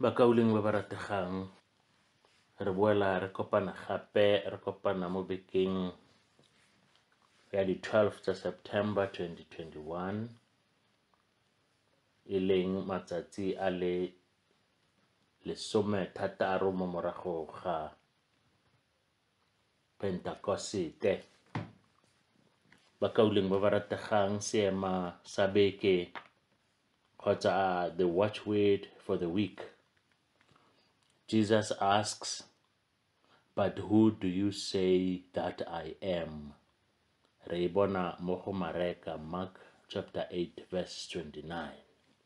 bakauleng ba ba rategang re boela re kopana gape re kopana mo bekeng ya di-12 tsa september 2021 e leng matsatsi a le lesomethataro mo morago ga Pentakosete. Bakauleng ba ba rategang seema sa beke kgotsa a the watchword for the week. Jesus asks, But who do you say that I am? Re e bona mo go Mareka, Mark chapter 8 verse 29.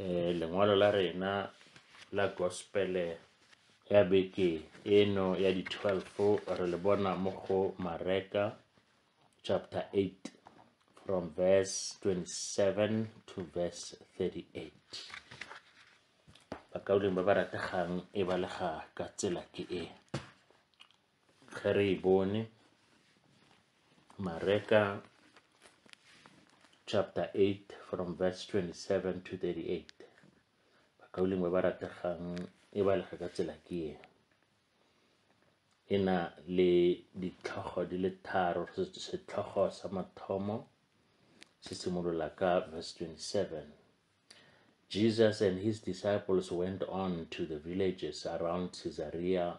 eh, lengwalo la rena la gospele ya beke eno ya di-12 re le bona mo go mareka chapter 8 from verse 27 to verse 38 bakauleng ba ba rategang e balega ka tsela ke e ge re e bone mareka chapter 8 from verse 27 to 38 bakauleng ba ba rategang e ba lega ka tsela ke e e na le ditlhogo di le tharo setlhogo sa mathomo se simolola ka verse 27 Jesus and his disciples went on to the villages around Caesarea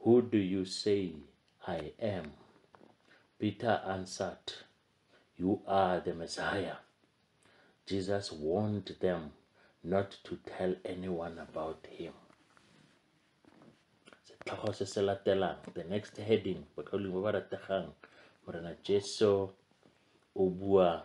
Who do you say I am? Peter answered, You are the Messiah. Jesus warned them not to tell anyone about him. Setlhogo se se latelang, the next heading, botlholong ba ba rategang, Morena Jesu o bua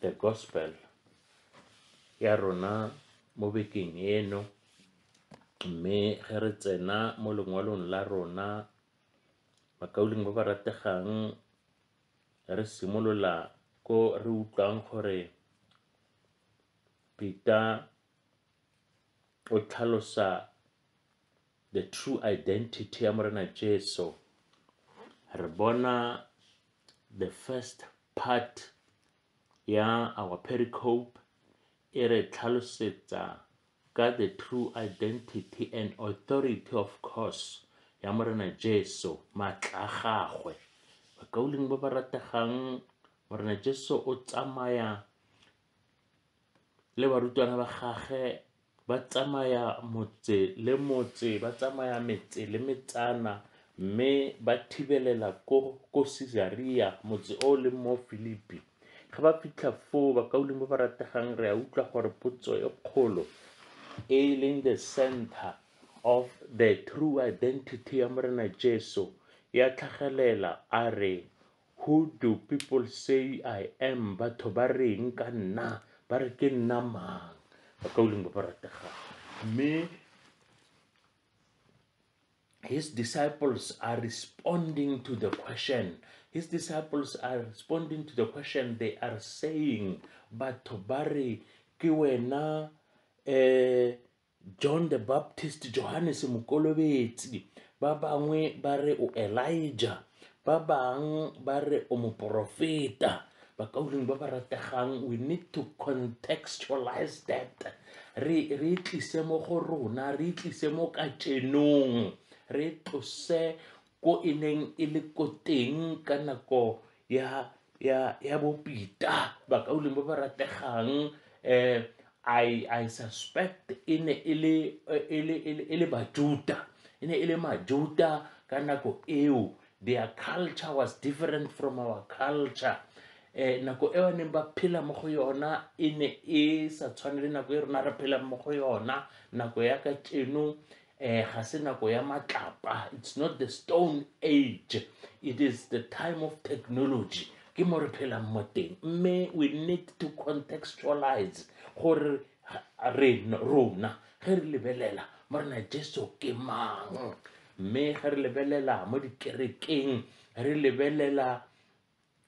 The Gospel ya rona mo bekeng eno mme ge re tsena mo lengwalong la rona bakauleng ba ba rategang re simolola ko re utlwang gore Peter o tlhalosa the true identity ya Morena Jesu re bona the first Part ya our pericope e re tlhalosetsa ka the true identity and authority of course ya Morena Jesu, maatla a gagwe. Bakauleng ba ba rategang, Morena Jesu o tsamaya le barutwana ba gagwe ba tsamaya motse le motse ba tsamaya metse le metsana mme ba thibelela ko ko Caesarea motse o le mo Filipi ga ba fitlha foo bakaulimo ba rategang re a utlwa gore potso e kgolo e leng the center of the true identity ya morena Jesu ya tlhagelela a re Who do people say I am? Batho ba reng ka nna? Ba re ke nna mang? Ba ka uleng ba ba rategang. Mme his disciples are responding to the question. His disciples are responding to the question. They are saying, Batho ba re ke wena eh John the Baptist, Johannes Mokolobetsi, ba bangwe ba re o Elijah, ba bang ba re o moporofeta bakauleng ba ba rategang we need to contextualize that re re tlise mo go rona re tlise mo ka tšenong re tlose ko e neng e le ko teng ka nako ya ya ya bopita bakauleng ba ba rategang um i i suspect e ne e le e le e le bajuta e ne e le majuta ka nako eo their culture was different from our culture um nako e ba neng ba phela mo go yona e ne e sa tshwane le nako e rona re phelang mo go yona nako ya ka tšeno eh ga se nako ya matlapa it's not the stone age it is the time of technology ke mo re phelang mo teng mme we need to contextualize gore rona ge re lebelela mo re na jesu ke mang mme ge re lebelela mo dikerekeng re lebelela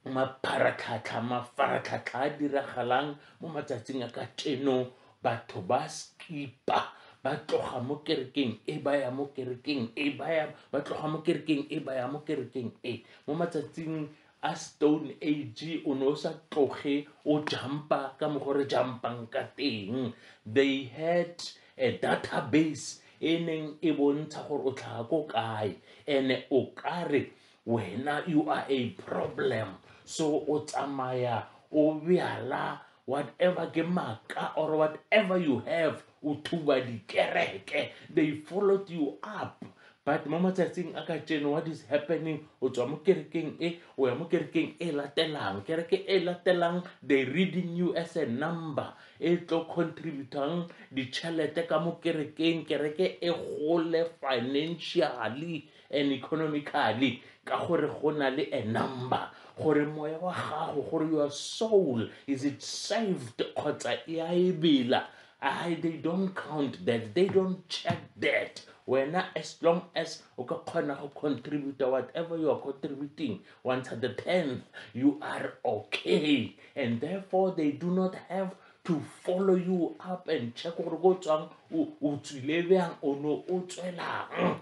mapharatlhatlha mafaratlhatlha a diragalang mo matsatsing a ka teno batho ba skipa ba tloga mo kerekeng e ba ya mo kerekeng e ba ya ba tloga mo kerekeng e ba ya mo kerekeng e mo matsatsing a stone age o ne o sa tloge o jumpa ka mokgwa re jumpang ka teng they had a database e neng e bontsha gore o tlhaga ko kae and-e o kare wena you are a problem so o tsamaya o bjala whatever ke maka or whatever you have o thuba dikereke they followed you up but mo matsatsing a ka tseno what is happening o tswa mo kerekeng e o ya mo kerekeng e latelang kereke e latelang they reading you as a number e tlo contributang ditšhelete ka mo kerekeng kereke e gole financially and economically ka gore go na le a number gore moya wa gago gore your soul is it saved kgotsa e a e bela I, they don't count that they don't check that wena as long as o ka kgona go contributa whatever you are contributing once at the tenth you are okay and therefore they do not have to follow you up and check gore ko tswang o tswile bjang o ne o tswelang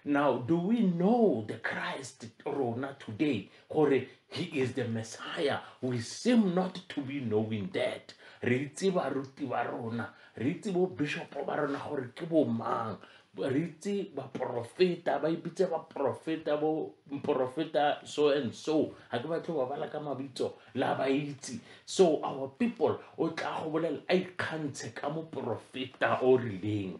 Now, do we know the Christ Rona today? Gore he is the Messiah. We seem not to be knowing that. Re itse baruti ba rona, re itse bo bishop ba rona gore ke bo mang. Re itse ba profeta, ba ibitse ba profeta bo profeta so and so. Ha ke batle ba bala ka mabitso la ba itse. So our people o tla go bolela a ikgantshe ka mo profeta o rileng.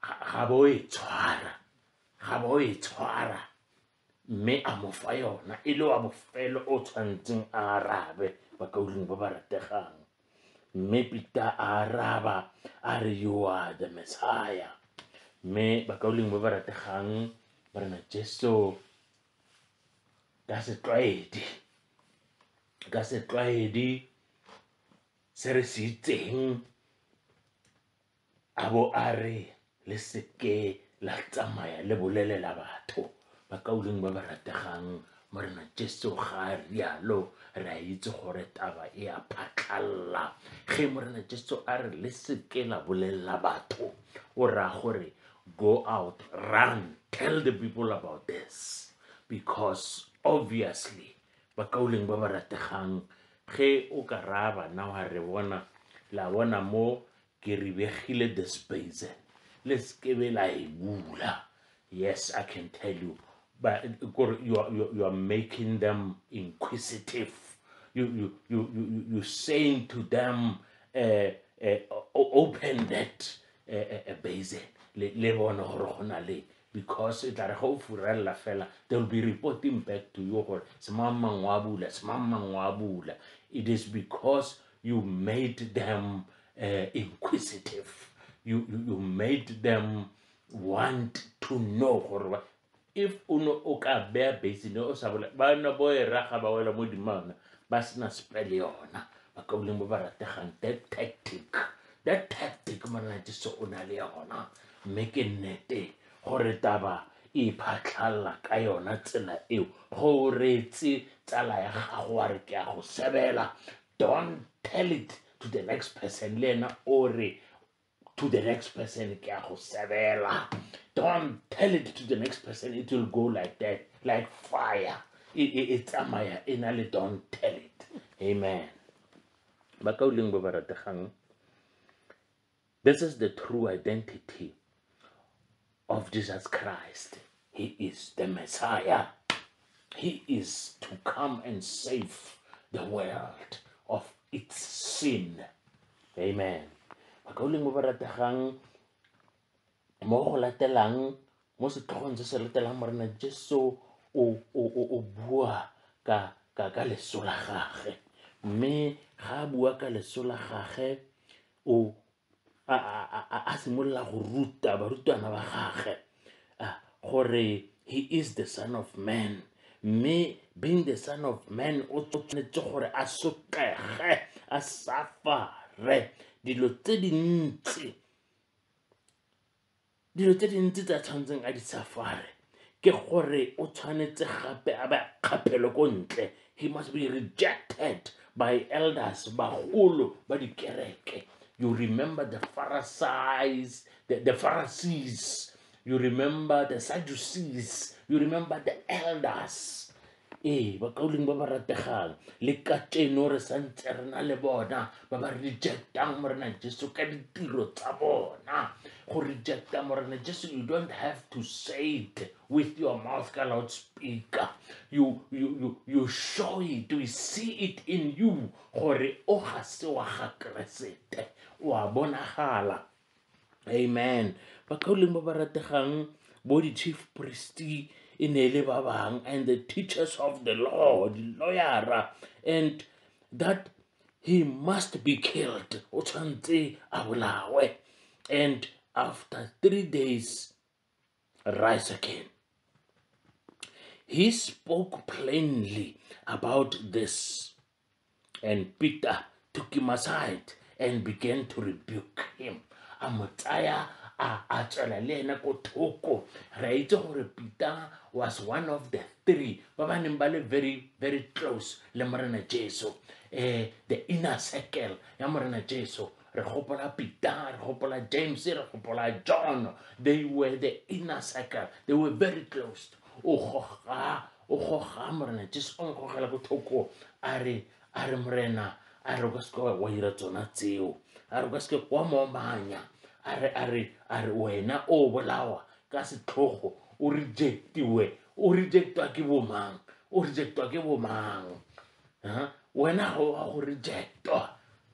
ga bo e tshwara ga bo e tshwara mme a mo fa yona e le wa bofelo o tshwanetseng a arabe bakauleng ba ba rategang mme pita a araba a re you are the messiah mme bakauleng ba ba rategang morena jesu ka setlwaedi ka setlwaedi se re se itseng a bo a re le seke la tsamaya le bolelela batho ba kauleng ba ba rategang morena jesu ga a rialo re a itse gore taba e a phatlhalla ge morena jesu a re le seke la bolelela batho o raya gore go out run tell the people about this because obviously ba kauleng ba ba rategang ge o ka raya bana wa re bona la bona mo ke re begile the space le sekebe la e bula yes i can tell you but kore you are, you are making them inquisitive you, you, you, you, you saying to them uh, uh, open that uh, uh, base le bone gore go na le because e tla re ga o furelela fela they will be reporting back to you gore semang mang wa bula semang mang wa bula it is because you made them uh, inquisitive you, you, you made them want to know gore if o ne o ka beya basine o sa bola ba ne bo e raga ba wela mo dimana ba sena spele yona ba ka boleng ba ba rategang that tactic that tactic monate se o na le yona mme ke nnete gore taba e iphatlhalela ka yona tsela eo go reetse tsala ya gago wa re ke a go sebela don't tell it to the next person le ena o re to the next person ke a go sebela don't tell it to the next person it will go like that like fire e tsamaya e na le don't tell it amen ba ka o leng ba ba rategang this is the true identity of jesus christ he is the messiah he is to come and save the world of its sin amen ba ka o leng ba ba rategang mo go latelang mo setlhogong se se latelang morena jesu o bua ka ka ka leso la gage mme ga a bua ka leso la gage o a simolola go ruta barutwana ba gage gore he is the son of man mme being the son of man o tshwanetse gore a sotlege a safare dilo tse dintsi dilo tse dintsi tse a tshwanetseng a di safare ke gore o tshwanetse gape a ba kgaphelo ko ntle he must be rejected by elders bagolo ba dikereke you remember the pharisees the, the pharisees you remember the sadducees you remember the elders ee bakauleng ba ba rategang le kajeno re santse re na le bona ba ba rejectang morena jesu ka ditiro tsa bona go rejecta morena jesu you don't have to say it with your mouth ka loud speaker you, you, you, you show it we see it in you gore o ga se wa ga keresete o a bonagala Amen. Bakauleng ba ba rategang bo di-chief priest e ne e le ba bang and the teachers of the law di-lawyera and that he must be killed o tshwanetse a bolawe and after three days rise again. He spoke plainly about this, and Peter took him aside and began to rebuke him. a mo tsaya a tswela le ene ko thoko re a itse gore peter was one of the three ba ba neng ba le very very close le morena jesu um the inner circle ya morena jesu re gopola peter re gopola james re gopola john they were the inner circle they were very close o goga o goga morena jesu o nkgogela ko thoko a re a re morena a re o ka seke wa dira tsona tseo a re o ka seke wa momanya a re a re a re wena o bolawa ka setlhogo o rejectiwe o rejectwa ke bomang o rejectwa ke bomang wena ga o a go rejectwa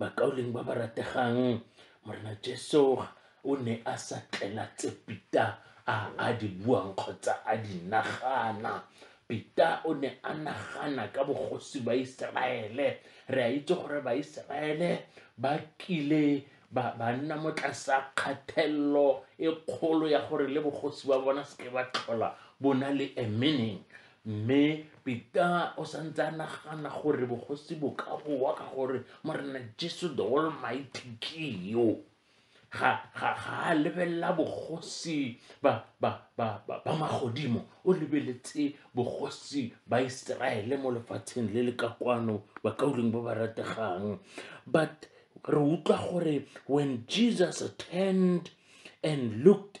bakauleng ba ba rategang morena jesu o ne a sa tlela tse pita a a di buang kgotsa a di nagana pita o ne a nagana ka bogosi ba iseraele re a itse gore baiseraele ba kile ba nna mo tlasa kgathelelo e kgolo ya gore le bogosi ba bona seke ba tlhola bo na le a meaning Mme Pita o santse a nagana gore bogosi bo ka boa ka gore Morena Jesu the Almighty ke yo ga ga ga a lebelela bogosi ba ba ba ba magodimo o lebeletse bogosi ba Iseraele mo lefatsheng le le ka kwano ba ka uleng ba ba rategang but re utlwa gore when Jesus turned and looked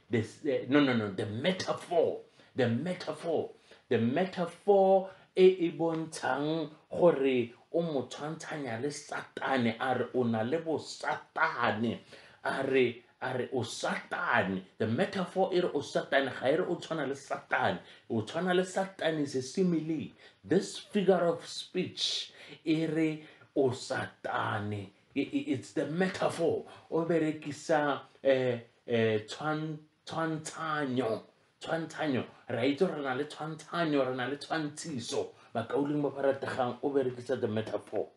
This, the, no, no, no, the metaphor. The metaphor. The metaphor e e bontshang gore o mo tshwantshanya le satane a re o na le bosatane a re a re o satane the metaphor e re o satane ga e re o tshwana le satane o tshwana le satane is a simile this figure of speech e re o satane it's the metaphor o berekisa eh, um tshwantshanyo tshwantshanyo re a itse gore re na le tshwantshanyo re na le tshwantshiso bakauleng ba ba rategang o berekisa the metaphor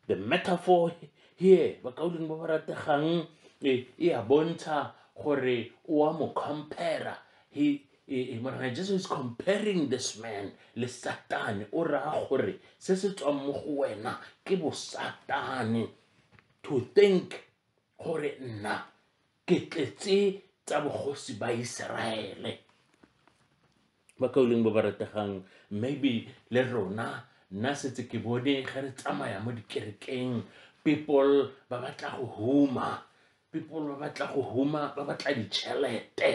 the metaphor here bakauleng ba ba rategang e e a bontsha gore o a mo compara he e, e, morena jesu is comparing this man le satane o raya gore se se tswang mo go wena ke bosatane to think gore nna ke tletse tsa bogosi ba Iseraele ba kauleng ba ba rategang maybe le rona nna setse ke bone ge re tsamaya mo dikerekeng people ba batla go huma people ba batla go huma ba batla ditšhelete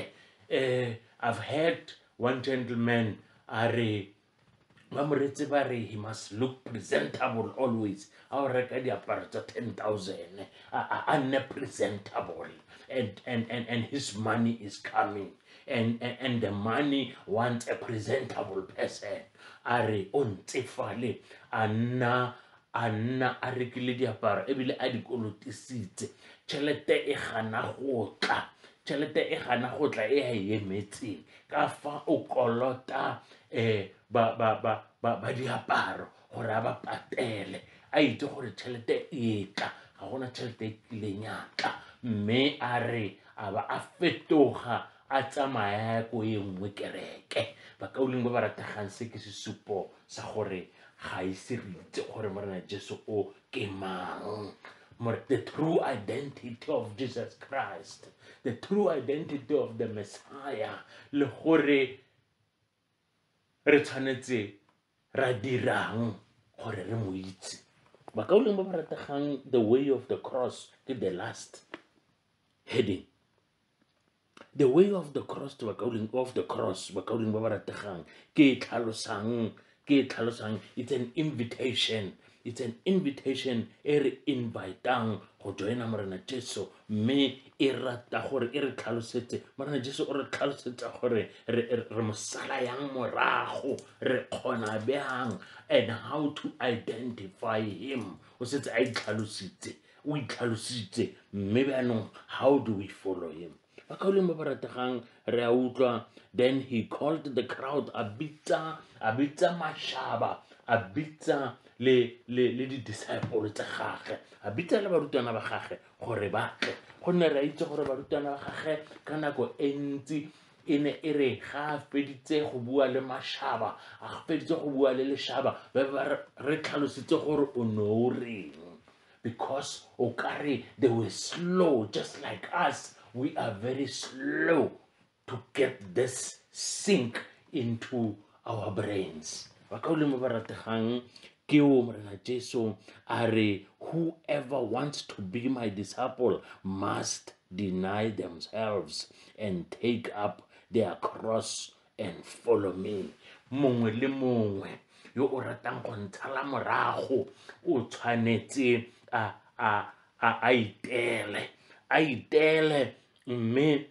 um i've heard one gentleman a re ba moretse ba re he must look presentable always a o reka diaparo tsa ten thousand a nne presentable and, and, and, and his money is coming and, and, and the money wants a presentable person a re o ntsefale a nna a nna a rekile diaparo ebile a dikolotisitse tšhelete e gana go tla tšhelete e gana go tla e a e emetseng ka fa o kolota um ba diaparo gore a ba patele a itse gore tšhelete e tla ga gona tšhelete e tlileng ya tla mme a re a ba a fetoga a tsamaya ko e nngwe kereke bakauleng ba ba rategang se ke sesupo sa gore ga ise re itse gore morena jesu o ke mang the true identity of jesus christ the true identity of the messiah le gore re tshwanetse ra dirang gore re mo itse bakauleng ba ba rategang the way of the cross ke the last heading the way of the cross to bakauleng of the cross bakauleng ba ba rategang ke e tlhalosang ke e tlhalosang it's an invitation it's an invitation e re invitang go joina morena jesu mme e rata gore e re tlhalosetse morena jesu o re tlhalosetsa gore re mosala yang morago re kgona bjang and how to identify him o setse a itlhalositse o itlhalositse mme jaanong how do we follow him bakgaoleng ba ba rategang re a utlwa then he called the crowd a bitsa a bitsa mashaba a bitsa le le le di-disciple tsa gagwe a bitsa le barutwana ba gagwe gore ba tle gonne re a itse gore barutwana ba gagwe ka nako e ntsi e ne e re ga a feditse go bua le mashaba a feditse go bua le leshaba ba ba re tlhalositse gore o ne o reng because o ka re they were slow just like us we are very slow to get this sink into our brains ba ka olemo ba rategang ke o morena jesu a re whoever wants to be my disciple must deny themselves and take up their cross and follow me mongwe le mongwe yo o ratang go ntshala morago o tshwanetse a a a itele a itele mme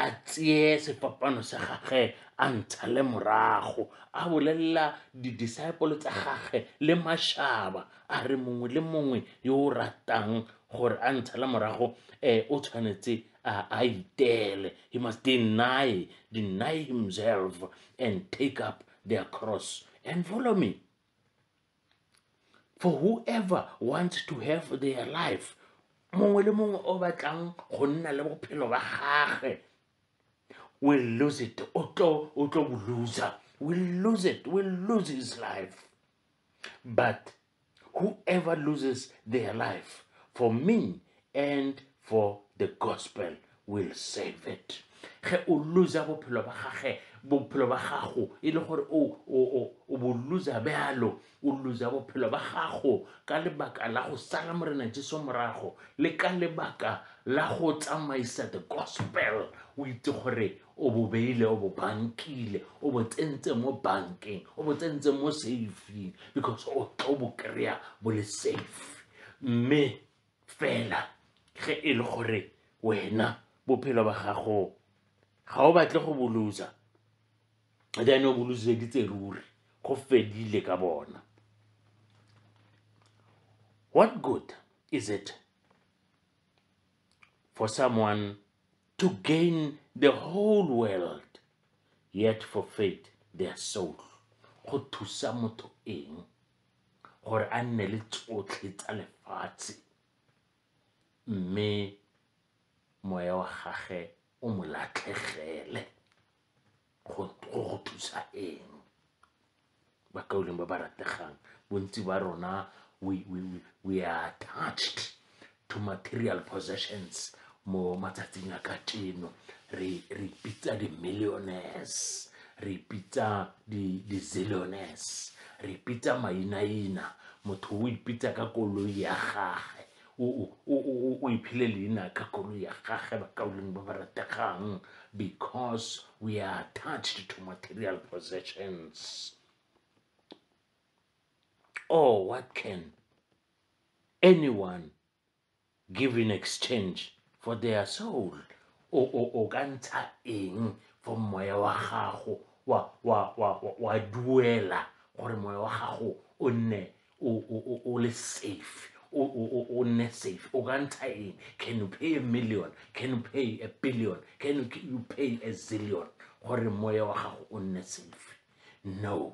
a tseye sefapano sa gage a ntsha le morago a bolelela di-disciple tsa gage le mashaba a re mongwe le mongwe yo o ratang gore a ntsha le morago um o tshwanetse a itele he must deny deny himself and take up their cross and follow me for whoever wants to have their life mongwe le mongwe o batlang go nna le bophelo ba gage will lose it o tlo o tlo bo loser will lose it will lose his life but whoever loses their life for me and for the gospel will save it ge o losa bophelo ba gage bophelo ba gago e le gore o bo losa bjalo o losa bophelo ba gago ka lebaka la go sala morena jesu morago le ka lebaka la go tsamaisa the gospel o itse gore o bo beile o bo bankile o bo tsentse mo bankeng o bo tsentse mo safeng because o tlo bo kry-a bo le safe mme fela ge e le gore wena bophelo ba gago ga o batle go bolosa then o boloseditse ruri go fedile ka bona what good is it for someone to gain the whole world yet forfeit their soul go thusa motho eng gore a nne le tsotlhe tsa lefatshe mme moya wa gage o mo latlhegele go go thusa eng bakauleng ba ba rategang bontsi ba rona we, we, we are attached to material possessions mo matsatsing a ka teno re re pitsa di millionaires re pitsa di di zillionaires re pitsa mainaina motho o ipitsa ka koloi ya gagwe o iphile leina ka koloi ya gagwe bakauleng ba ba rategang because we are attached to material possessions oh what can anyone give in exchange for their soul o o o ka ntsha eng for moya wa gago wa wa wa wa duela gore moya wa gago o nne o o o o le safe o o o o nne safe o ka ntsha eng can you pay a million can you pay a billion can you, can you pay a zillion gore moya wa gago o nne safe no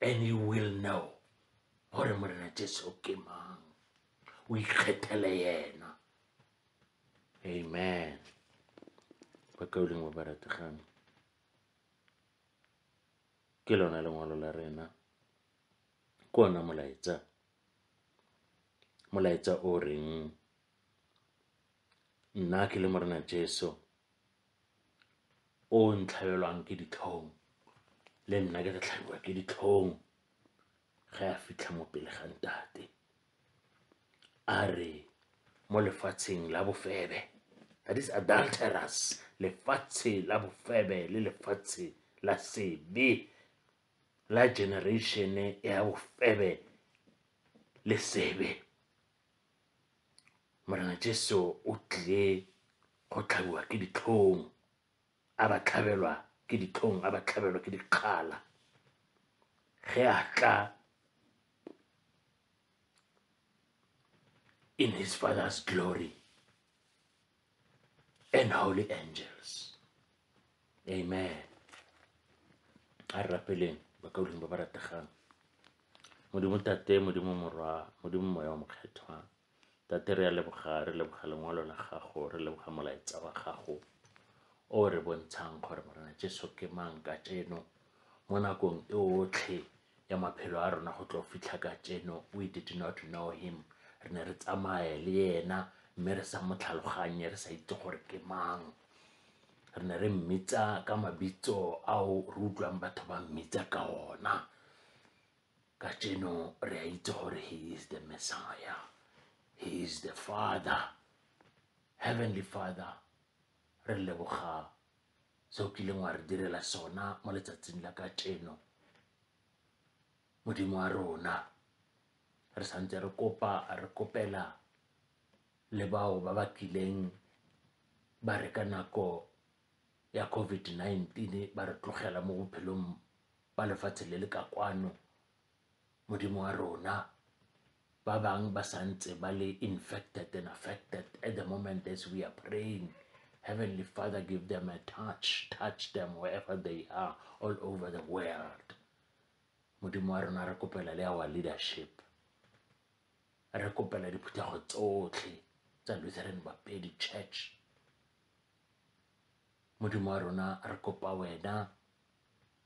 and you will know gore morena jesu ke mang o ikgethele yena amen ba ka o leng wa barategane ke lona lengwalo la rena ke ona molaetsa molaetsa o reng nna ke le morena jesu o ntlhabelwang ke ditlhong le nna ke re tlhabiwa ke ditlhong ge a fitlha mo pele ga ntate a re mo lefatsheng la bofebe that is adulterous lefatshe la bofebe le lefatshe la sebe la generatione ya bofebe le sebe Morena Jesu o tlile go tlhabiwa ke ditlhong a ba tlhabelwa ke ditlhong a ba tlhabelwa ke dikgala ge a tla in his father's glory and holy angels. Amen. a re rapeleng ba ka godimo ba ba rategang modimo tate modimo morwa modimo moya wa mokgethwa tate re ya leboga re leboga lengwalo la gago re leboga molaetsa wa gago o re bontshang gore morena jesu ke mang ka tseno mo nakong e otlhe ya maphelo a rona go tlo fitlha ka tseno we did not know him re ne re tsamaye le yena mme re sa mo tlhaloganye re sa itse gore ke mang re ne re mmitsa ka mabitso ao re utlwang batho ba mmitsa ka ona ka tseno re a itse gore he is the messiah he is the father heavenly father re leboga se o kileng wa re direla sona mo letsatsing la kajeno modimo wa rona re santse re kopa re kopela le bao ba ba kileng ba re ka nako ya covid-19 ba re tlogela mo bophelong ba lefatshe le le ka kwano Modimo wa rona ba bang ba sa ntse ba le infected and affected at the moment as we are praying heavenly father give them a touch touch them wherever they are all over the world modimo wa rona re kopela le our leadership re kopela diphuthego tsotlhe tsa lutheran bapedi church modimo wa rona re kopa wena